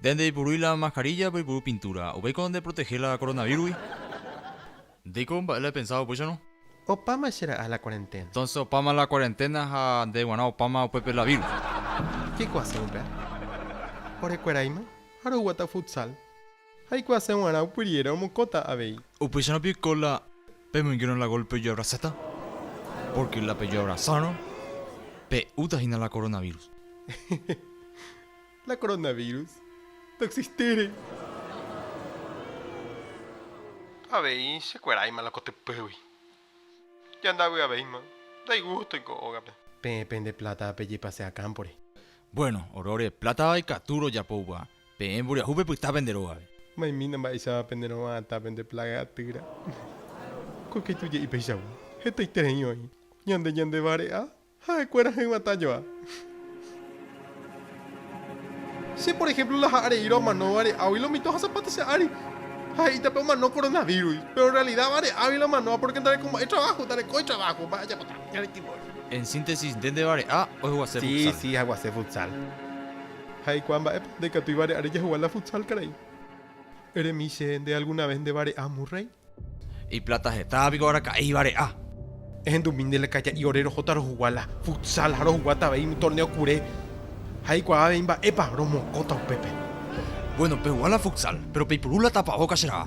Nde ndeipurúi la maskarilla peipuru pintúra. Upéiko ndeprotehe la koronavírugui. Ndéiko mba'e la epensáva upéicharõ. Opáma che ra'a la kuarenténa. Entónse opáma la kuarenténa ha nde g̃uarã opáma upépe la vírus. Jaikuaase upéva. Orekueraíma ha roguata futsal. Jaikuaase g̃uarã upyriére omokóta avei. Upéicharõ piko la pemoingérõ la gólpe ojoabrasáta? Pórke la pejoabrasárõ, pe'úta hína la koronavírus. Hehe. La koronavírus ndoexistére. Avei chekueráima la kotypýgui. Jandavyavéima. Ndaigústoi ko ógape. Peẽ pende pláta pejepase'a kámpore. Buéno, oróre, plátava ikatu rojapo upéva. Peẽ mboriahu pepyta pende rógape. Maimína mba'éichapa penerova'atã pende plága atýra. Ko kaitu je'i peichagua, hetaiterei oĩ. Ñande ñandevare'a ha'ekuéra hyg̃uatã joa. Che, por ehémplo, laha'ã reíro amano vare'águi lo mito ha zapata che ári. Ha he'íta pe omano koronavírus, péro en rrealida vare'águi lo amanoha pórke ndarekomba'e traváho, ndarekói traváho, mba'e ajapóta, ñande timbo. En síntesis, nde ndevare'a ohguase futsal. Sí, sí, aguase futsal. Ha eikuaa mba'épa ndaikatúi vare'áre jahegua la futsal karai. Eremi che, nde alguna vez ndevare'a, Murray? Iplata hetáva piko araka'éi vare'a. Ehendumi nde la kaja'i ore rohóta rohugua la futsal ha rohuguáta avei umi torneo kure. Ha eikuaa avei mba'épa romokõta upépe. Bueno, pehua la futsal, pero peipuru la tapavóka che ra'a.